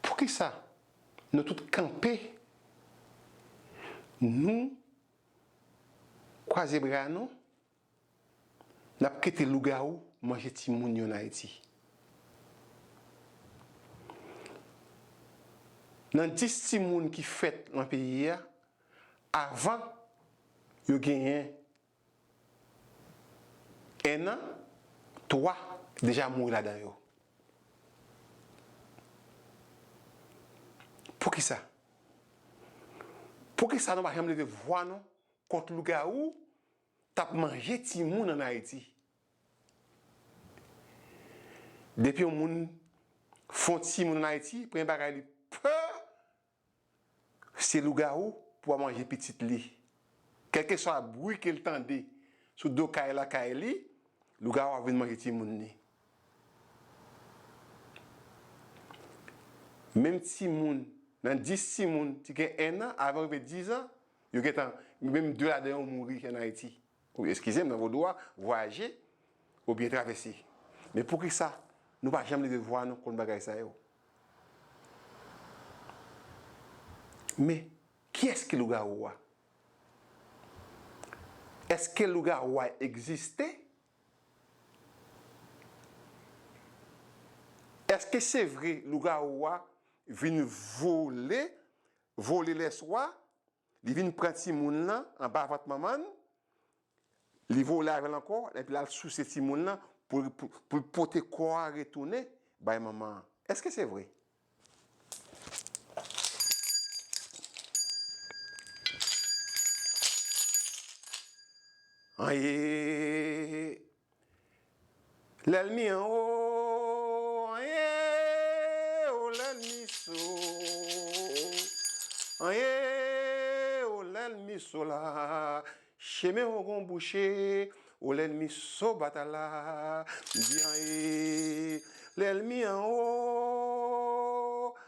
Poukisa nou tout kanpe, nou kwaze bra nou, n ap kite lougawou manje timoun yo an Ayiti? Nan 10 timoun ki fèt nan peyi a, avan yo genyen 1 an 3 deja mouri ladan yo poukisa poukisa nou pa janm leve vwa nou kont lougawou kap manje timoun an ayiti depi yon moun fon timoun an ayiti premye bagay li pè. Se lougawou pou a manje pitit li. Kèlkeswa bri ke l tande sou do kay lakay li, lougawou ap vin manje timoun li. Menm timoun, nan dis timoun ti gen ennan, avan rive dizan, yo gentan, menm de ladan yo mouri an Ayiti. Eskize m, nan vodou a, vwayaje oubyen travèse. Men poukisa nou pa janm leve vwa nou kont bagay sa yo? Men, kiyès ki lougawou a? Eske lougawou a egziste? Eske se vre lougawou a vin vole, vole lèswa, Li vin pran timoun lan anba vant manman l, li vole avè l ankò, epi l al souse timoun lan pou l pote kò a retounen bay manman an. Èske se vre? Anyee! Lèlmi an wo anyen o lèlmi so anyen o lèlmi so la chemen ou gon bouche o lèlmi so batal la m di anyen lèlmi an wo.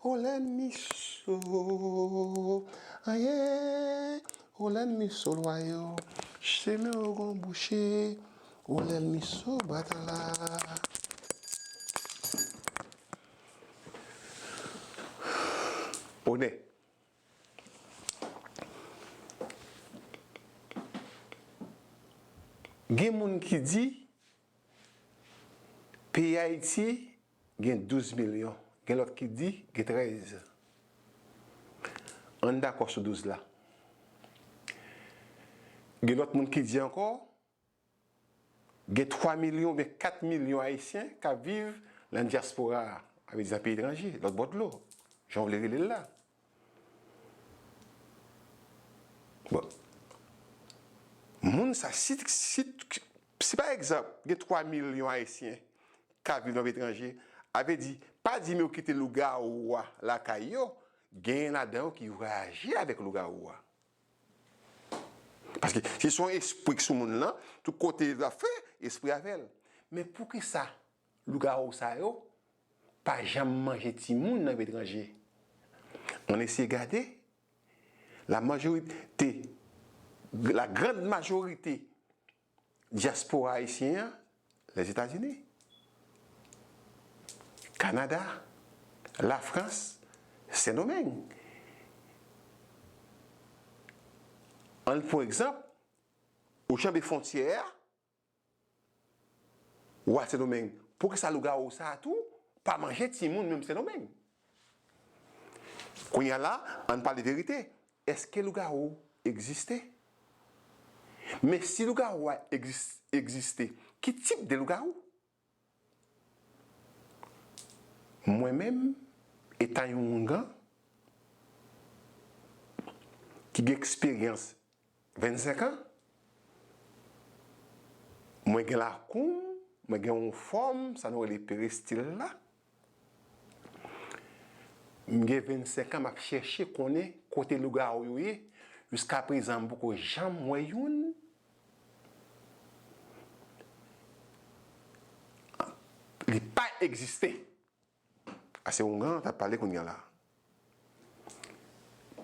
Ho lèn mi so ayy ho lèn mi so lwa yo chemen ou gon bouche ho lèn mi so batala ho nè. Gen moun ki di peyi Ayiti Gen 12 milyon. Gen lòt ki di gen 13. An n dakò sou 12 la. Gen lòt moun ki di ankò gen 3 milyon oubyen 4 milyon Ayisyen k ap viv nan dyaspora a, sa vle di nan peyi etranje, lòtbò dlo, jan w vle rele l la. Bon, moun sa, si, si, si pa egzanp, gen 3 milyon Ayisyen k ap viv nan peyi etranje, a vle di, pa di m yo kite lougawou a lakay yo, genyen ladan yo ki vwayaje avèk lougawou a. Paske si se yon espri k sou moun lan, tout kote l ap fè, espri a avè l. Men poukisa Lougawou sa yo pa janm manje timoun nan peyi etranje. Ann eseye gade, la majorit te, la grand majorite dyaspora ayisyen an, Lèzetazini, Kanada, Lafrans, Sendomeng. Ann pou egzanp, ou janbe fontyè a. Wa Sendomeng, poukisa lougawou sa a tou pa manje timoun menm Sendomeng? Kounye a la, ann pale verite, èske lougawou egziste? Men si lougawou a egziste, ki tip de lougawou? Mwen menm, etan yon houngan ki gen eksperyans 25 an, mwen gen lakou m, mwen gen yon fòm, sa nou rele perestil la. M gen 25 an m ap chèche konnen kote lougawou yo ye, jiska prezan m poko janm wè youn. Li pa egziste. A se Houngan k ap pale kounya la.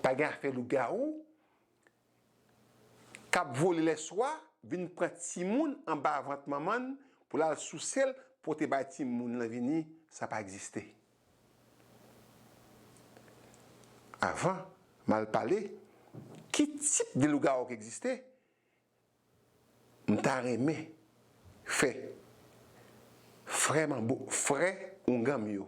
Pa gen afè lougawou. k ap vole lèswa vin pran timoun anba vant manman l pou l al souse l pote bay timoun lan vini sa pa egziste. Avan m al pale ki tip de lougawou ki egziste, m ta renmen fè frè manbo, frè oungan m yo,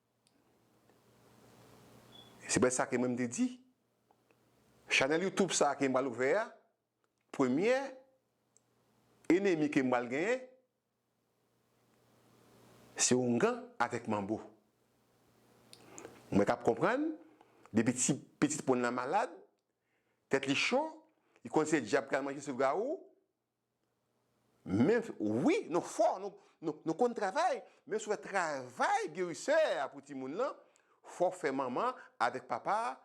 Se prèske sa ke mwen m te di. Chanèl YouTube sa ke m pral ouvè a, premyè enemi ke m pral genyen, se Houngan avèk Manbo. Mwen kab konprann, depi ti pitit moun lan malad, tèt li cho, li konn se dyab ki al manje sougawou, Men wi nou fò nou konn travay men sou fè travay gerisè a pou timoun lan fò fè manman avèk papa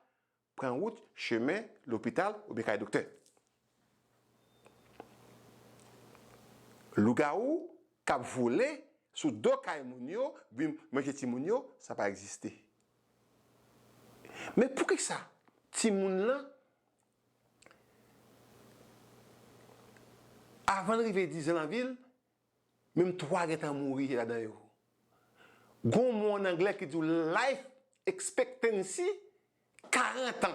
pran wout chemen lopital oubyen kay doktè. Lougawou kap vole sou do kay moun yo vin manje timoun yo sa pa egziste. Men poukisa timoun lan Avan l rive dizan nan vi l, menm twa gentan mouri ladan yo. Gon w mo an anglè ki di w life expectancy, karantan.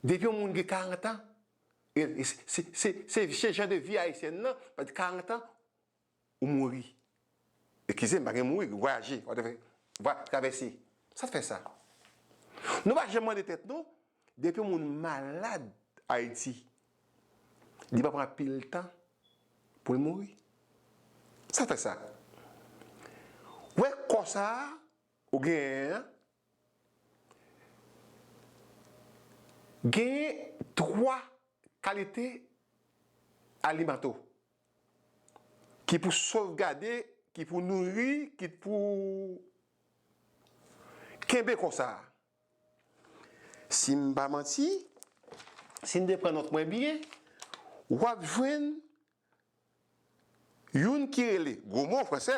Depi yon moun gen karantan, se jan de vi ayisyèn nan, karantan Ou mouri. Eskize m, pa gen mouri, gen vwayaje. Ou te vwa, travèse. Sa t fè sa? Nou pa janm mande tèt nou, depi yon moun malad Ayiti, li pa pran anpil tan pou l mouri? Sa t fè sa? Ou wè kò sa a ou genyen an, genyen twa kalite alimento. ki pou sovgade, ki pou nouri, ki t pou kenbe konsa. Si m pa manti, si n te pran nòt mwen byen, w ap jwenn youn ki rele, gwo mo an fransè,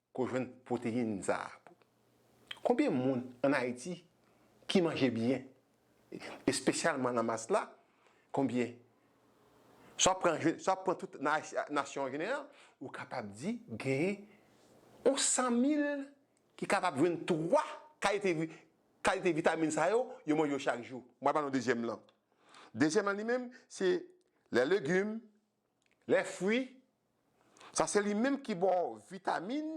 Ko jwenn proteyin sa a. Konbyen moun an ayiti ki manje byen espesyalman nan mas la konbyen sa w pran sa w pran tout nasyon an jeneral ou kapab di gen yon 100 mil ki kapab jwenn 3 kalite kalite vitamin sa yo yo manje yo chak jou mwen pral ba nou dezyèm lan dezyèm lan li menm se lè legim Lè fwi, sa se li menm ki ba w vitamin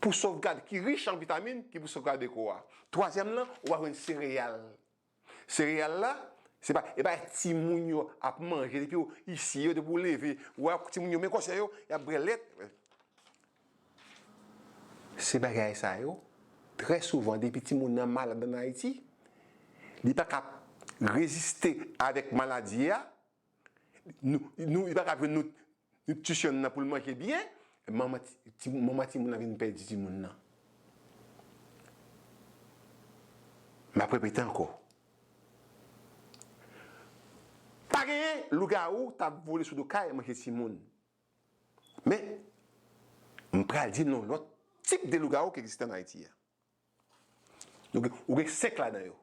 pou sovgade, ki rich an vitamin ki pou sovgade kò a. Twazyèm lan, ou va jwenn sereyal. Sereyal la, se pa, e bagay timoun yo ap manje depi yo isi yo, depi ou leve, ou wè timoun yo men kòsè yo, y ap bwè lèt. Se bagay sa yo, trè souvan depi timoun nan malad an Ayiti, li pa ka reziste avèk maladi a, nou, li pa ka jwenn nitrisyon nan pou l manje byen, manman timoun nan vin pèdi timoun nan. M ap repete ankò, pa genyen lougawou t ap vole sou do kay manje timoun. Men, m pral di n yon lòt tip de lougawou ki egziste ann Ayiti. Ou gen 5 ladan yo.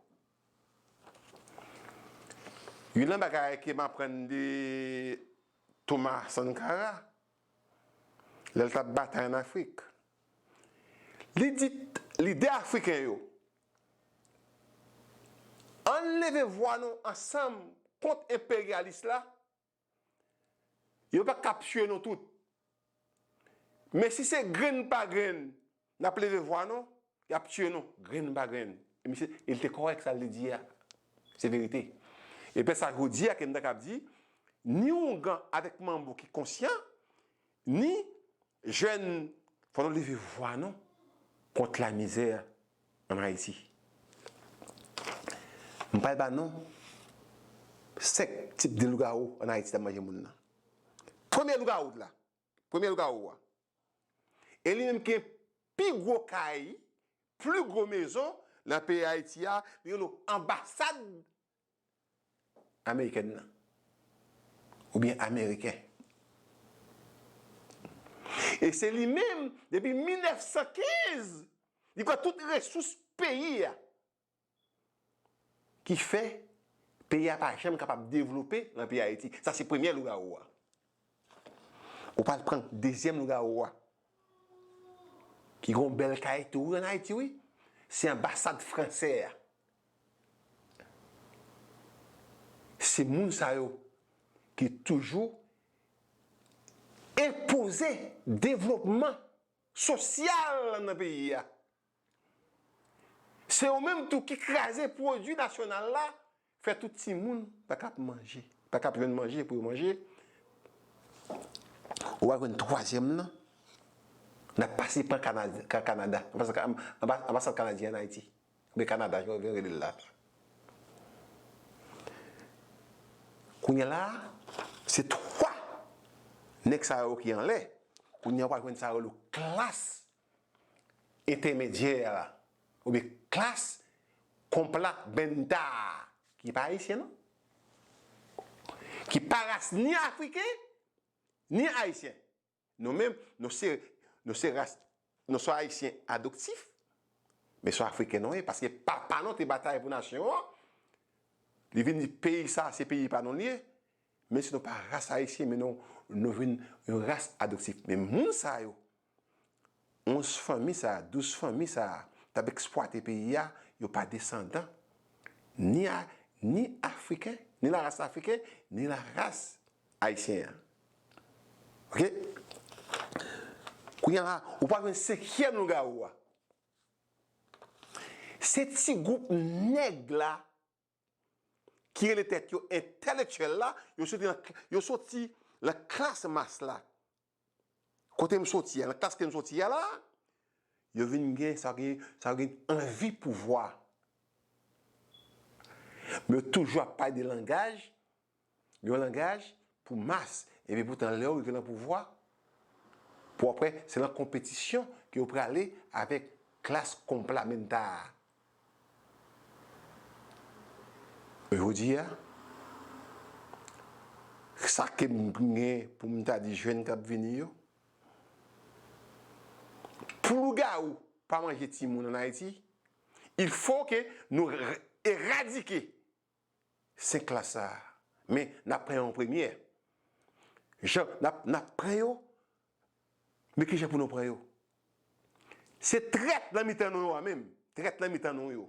Youn nan bagay ke m aprann de Thomas Sankara, lè l t ap batay ann Afrik, li di lidè afriken yo, Ann leve vwa nou ansanm kont enperyalis la. Yo pa kap tue nou tout. Men si se grenn pa grenn nap leve vwa nou, yap tue nou grenn pa grenn. E misye, e li te kòrèk sa li te di a. Se verite. E pè sa jodi a ke m ta kap di, ni oungan avèk manbo ki konsyan, ni Jèn fò nou leve vwa nou kont la mizè an Ayiti. M pral ba non 5 tip de lougawou an Ayiti kap manje moun nan. Premye lougawou t la, premye lougawou a e li menm ki gen pi gwo kay, pli gwo mezon nan peyi Ayiti a, li rele w anbasad Amerikèn nan. Oubyen Ameriken. E se li menm, depi 1915, li pran tout resous peyi a. Ki fè, peyi a pa janm kapab devlope nan peyi Ayiti. Sa se premyè lougawou a. Ou pral pran dezyèm lougawou wa. Ki gon bèl kay tou wi an Ayiti wi. Se anbasad fransè a. Se moun sa yo ki toujou enpoze devlopman sosyal nan peyi a. Se yo menm tou ki kraze pwodui nasyonal la, fè tout timoun pa kap manje, pa kap jwenn manje pou yo manje. Ou al jwenn twazyèm nan, nap pase pa Kanada, anbasad kanadyen an Ayiti, oubyen Kanada jan yo vle rele l la. Kounya la, se 3 nèg sa yo ki anlè, kounya ou al jwenn sa yo rele klas entèmedyè a oubyen klas konpla benta a ki pa ayisyen non, ki pa ras ni afriken ni ayisyen. Nou menm nou se nou se ras nou se ayisyen adoptif men se afriken nou ye paske papa nou te batay pou nasyon an li vin di peyi sa se peyi pa nou li ye menm si nou pa ras ayisyen men nou vin yon ras adoptif men moun sa yo 11 fanmi sa, 12 fanmi sa tap ekspwate peyi a, yo pa desandan ni a, ni afriken, ni la ras afriken, ni la ras ayisyen an. Ok? Kounya la, ou pral jwenn senkyèm lougawou a. Se ti gwoup nèg la ki rele tèt yo entèlektyèl la, yo soti nan, yo soti nan klas mas la. Kote m soti a, nan klas ke m soti a la, yo vin gen sa gen, sa yo gen anvi pouvwa. Men yo toujou ap pale de langaj. Yon langaj pou mas, epi poutan lèw rive nan pouvwa, pou aprè se nan konpetisyon ke yo prale avèk klas konplamenta a. Jodia, sa kem gen poum ta di jèn kap vini yo, pou lougawou pa manje timoun an Ayiti, il fo ke nou eradike 5 klas sa a. Men, n ap pran yo an premye. Jan n ap n ap pran yo, men ki jan pou nou pran yo. Se trèt nan mitan nou yo a menm, trèt nan mitan nou yo.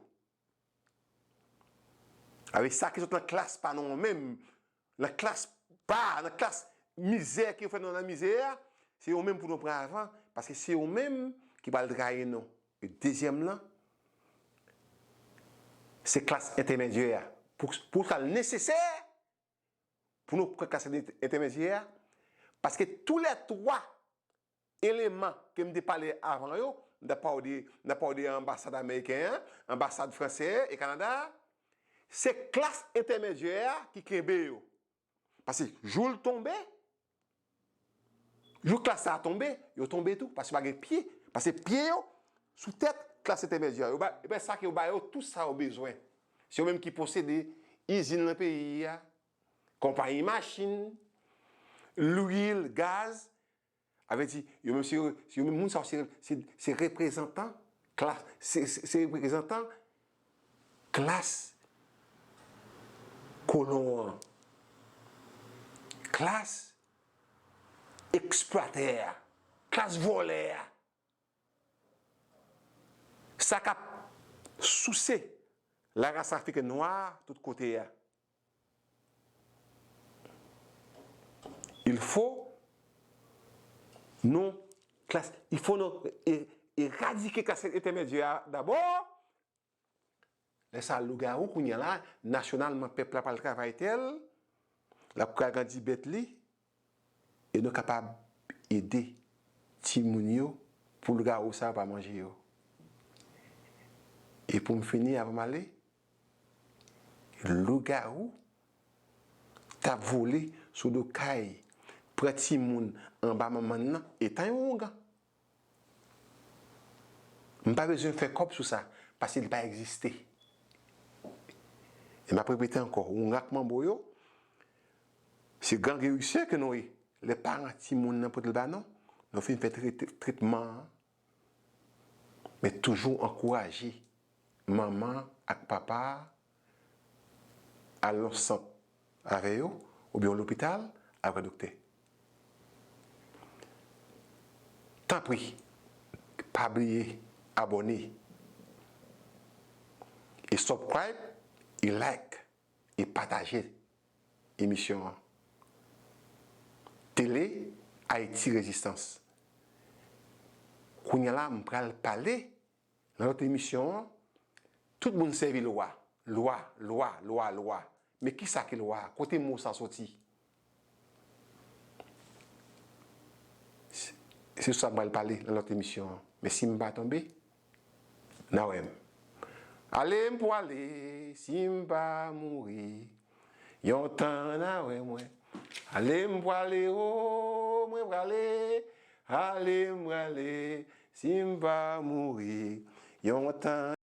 Sa vle di sa ki sot nan klas pa nou an menm, Nan klas ba a, nan klas mizè ki yo fè nou nan mizè a, se yo menm pou nou pran avan, paske se yo menm ki pral trayi nou. E dezyèm lan, se klas entèmedyè a. Pou sa l nesesè pou nou pran klas entèmedyè a, paske tou lè twa Eleman ke m te pale avan yo, m ta pa w de, m ta pa w de anbasad ameriken an, anbasad franse e Kanada a, se klas entèmedyè a ki kenbe yo. Pase jou l tonbe, jou klas sa a tonbe, yo tonbe tou, pase pa gen pye, pase pye yo sou tèt klas entèmedyè a. Yo ba, epi sa ke yo ba yo tou sa yo bezwen. Se yo menm ki posede izin nan peyi a, konpayi machin, lwil, gaz, A vle di, yo menm se yo menm moun sa yo se se reprezantan klas se se reprezantan klas kolon an. Klas eksplwatè a. Klas vòlè a. Sa k ap souse larasafrikèn nwa a tout kote a. Il fo nou klas il fo nou eradike klas entèmedyè a dabò lè sa lougawou kounya la nasyonalman pèp la pral travay tè l l ap pral grandi bèt li E nou kapab ede timoun yo pou lougawou sa yo pa manje yo. E pou m fini avan m ale, lougawou t ap vole sou do kay, pran timoun anba manman nan, etan yon ougan. M pa bezwen fè kòb sou sa pase li pa egziste. E m ap repete ankò, yon rak manbo yo, se gran gerisè ke nou ye. Lè paran timoun nan pote l ba nou, nou fin fè tretman an, men toujou ankouraje manman ak papa a, al nan sant avè yo oubyen yon lopital al wè doktè. Tanpri pa bliye abòne e subcribe e like e pataje emisyon an. Tele Haïti Résistance Kounya la m pral pale Nan lòt emisyon an, tout moun sèvi lwa, lwa, lwa, lwa, lwa. Men ki sa ki lwa a? Kote mo sa soti? Se sou sa m pral pale nan lòt emisyon an. Men si m pa tonbe, n a wè m. Ale m pwale si m pa mouri. Yon tan an avè mwen. Ale m prale o mwen prale Ale m prale si m pa mouri yon tan.